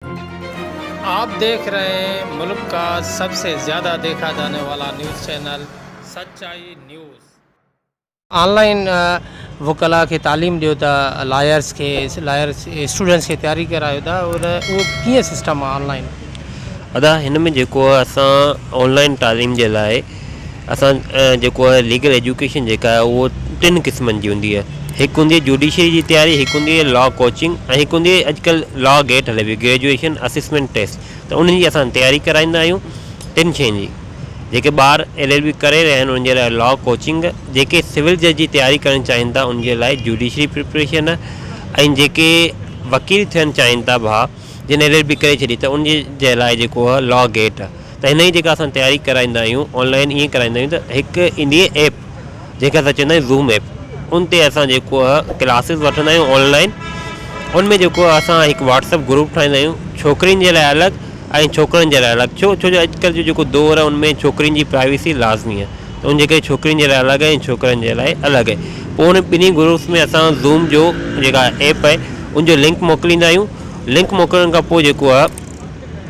آپ ديکھ رھي ھين ملڪ کا سب سي زياده ديکھا جاني والا news channel Sachai news. Online وڪلا کي تعليم ڏيو ته لائرس کي لائر اسٽوڊنٽس کي تياري ڪرايو ته اھو ڪيئن سسٽم آن لائين. ادا ھن ۾ جيڪو اسان آن لائين تعليم جي لاء. اسان جيڪو آهي ليگل ايجوڪيشن جيڪا آهي اهو ٽن قسمن جي هوندي آهي هڪ هوندي آهي جوڊيشري جي تياري هڪ هوندي آهي لا ڪوچنگ ۽ هڪ هوندي آهي اڄڪلهه لا گيٽ هلي پئي گريجوئيشن اسسمينٽ ٽيسٽ ته ان جي اسان تياري ڪرائيندا آهيون ٽن شين جي جيڪي ٻار ايل ايل بي ڪري رهيا آهن ان جي لاء لا ڪوچنگ جيڪي سول جج جي تياري ڪرڻ چاهين ٿا ان جي لاء جوڊيشري پريپريشن ۽ جيڪي وڪيل ٿيڻ چاهين ٿا ڀاء جن ايل ايل بي ڪري ڇڏي ته ان جي لاء جيڪو آهي لا گيٽ ته هن جي جيڪا اسان تياري ڪرائيندا آهيون آن لائين ائين ڪرائيندا آهيون ته هڪ ايندي اهي ايپ جنهن کي اسان چوندا آهيون زوم ايپ ان تي اسان جيڪو اهي ڪلاسز وٺندا آهيون آن لائين ان ۾ جيڪو اهي اسان هڪ واٽسپ گروپ ٺاهيندا آهيون ڇوڪرين جي لاء الڳ ۽ ڇوڪرن جي لاء الڳ ڇو ڇو جو اڄ ڪلهه جو جيڪو دور اهي ان ۾ ڇوڪرين جي پرائيوسي لازمي اهي ته ان جي ڪري ڇوڪرين جي لاء الڳ اهي ڇوڪرن جي لاء الڳ اهي پوء ان ٻنهي گروپس ۾ اسان زوم جو جيڪا ايپ اهي ان جو لنڪ موڪليندا آهيون لنڪ موڪلڻ کان پوء جيڪو اهي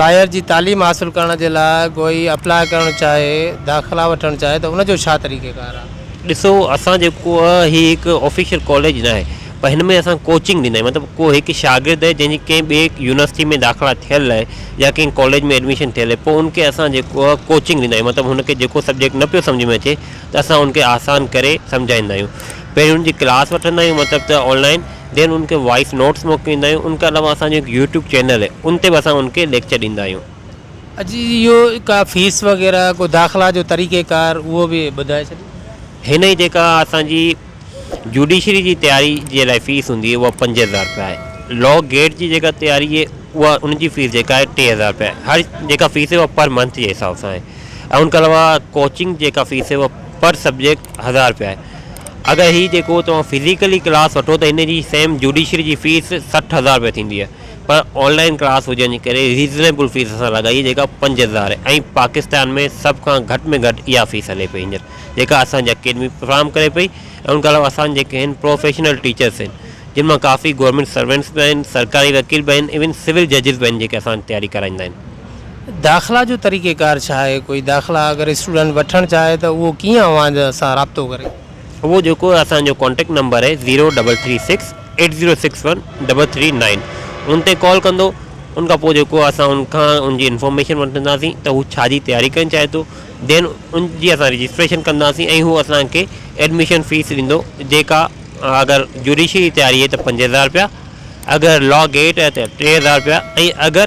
لاير جي تعليم حاصل ڪرڻ جي لاء ڪوئي اپلاء ڪرڻ چاهي داخلا وٺڻ چاهي ته ان جو ڇا طريقه ڪار آهي. ڏسو اسان جيڪو آ هي هڪ آفيشل ڪاليج ناهي پر هن ۾ اسان ڪوچنگ ڏيندا آهيون مطلب ڪو هڪ شاگرد جنهن جي ڪنهن ٻي يونيورسٽي ۾ داخلا ٿيل آهي يا ڪنهن ڪاليج ۾ ايڊميشن ٿيل آهي پوء ان کي اسان جيڪو آ ڪوچنگ ڏيندا آهيون مطلب هن کي جيڪو سبجيڪٽ نه پيو سمجهه ۾ اچي ته اسان ان کي آسان ڪري سمجهائيندا آهيون پهريون ان جي ڪلاس وٺندا آهيون مطلب ته آنلائن دين ان کي وائيس نوٽس موڪليندا آهيون ان کان علاوه اسان جو هڪ يوٽيوب چينل اهي ان تي به اسان ان کي ليڪچر ڏيندا آهيون. اجي جي اهو ڪا فيس وغيره ڪو داخلا جو طريقي ڪار اهو به ٻڌائي ڇڏيو. هن جي جيڪا اسان جي جوڊيشري جي تياري جي لاء فيس هوندي اها پنج هزار روپيا آهي لا گيٽ جي جيڪا تياري اهي اها ان جي فيس جيڪا آهي ٽي هزار روپيا آهي هر جيڪا فيس اهي اها پر منٿ جي حساب سان آهي ۽ ان کان علاوه ڪوچنگ جيڪا فيس اهي اها پر سبجيڪٽ هزار روپيا آهي. اگر هي جيڪو توهان فزيڪلي ڪلاس وٺو ته هن جي سيم جوڊيشري جي فيس سٺ هزار رپيا ٿيندي آهي پر آن لائين ڪلاس هجڻ جي ڪري ريزنيبل فيس اسان لڳائي جيڪا پنج هزار آهي ۽ پاڪستان ۾ سڀ کان گهٽ ۾ گهٽ اها فيس هلي پئي هينئر جيڪا اسان جي اڪيڊمي فراهم ڪري پئي ۽ ان کان علاوه اسان جي جيڪي هن پروفيشنل ٽيچرس آهن جن مان ڪافي گورمينٽ سروينٽس به آهن سرڪاري وڪيل به آهن ايون سول ججز به آهن جيڪي اسان تياري ڪرائيندا آهن. داخلا جو طريقي ڪار ڇا آهي ڪوئي داخلا اگر اسٽوڊنٽ وٺڻ چاهي ته اهو ڪيئن اوهان سان رابطو ڪري. اهو جيڪو اسان جو ڪانٽيڪٽ نمبر آهي zero double three six eight zero six one double three nine ان تي ڪال ڪندو ان کان پوء جيڪو اسان ان کان ان جي انفارميشن وٺنداسين ته هو ڇا جي تياري ڪرڻ چاهي ٿو دين ان جي اسان رجسٽريشن ڪنداسين ۽ هو اسان کي ايڊميشن فيس ڏيندو جيڪا اگر جوڊيشري جي تياري آهي ته پنج هزار رپيا اگر لا گيٽ آهي ته ٽي هزار رپيا ۽ اگر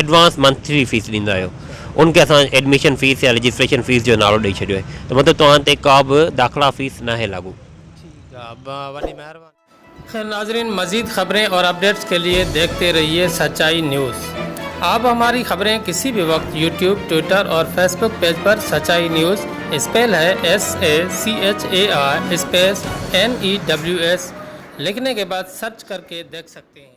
ايڊوانس منٿلي فيس ڏيندا آهيو ان کي اسان ايڊميشن فيس يا رجسٽريشن فيس جو نالو ڏئي ڇڏيو آهي ته مطلب توهان تي ڪا به داخلا فيس ناهي لاڳو. ٺيڪ آ وڏي مهرباني. خير ناظرين مزيد خبرين اور اپڊيٽس کے لئے ديکتي رهيئي سچائي نيوز آپ هماري خبرين ڪسي بهي وقت يوٽيوب ٽوئيٽر اور فيس بوڪ پيج پر سچائي نيوز اسپيل هي S A C H A I space N E W S لکني کي بعد سرچ ڪرڪي ديک سکتي هين.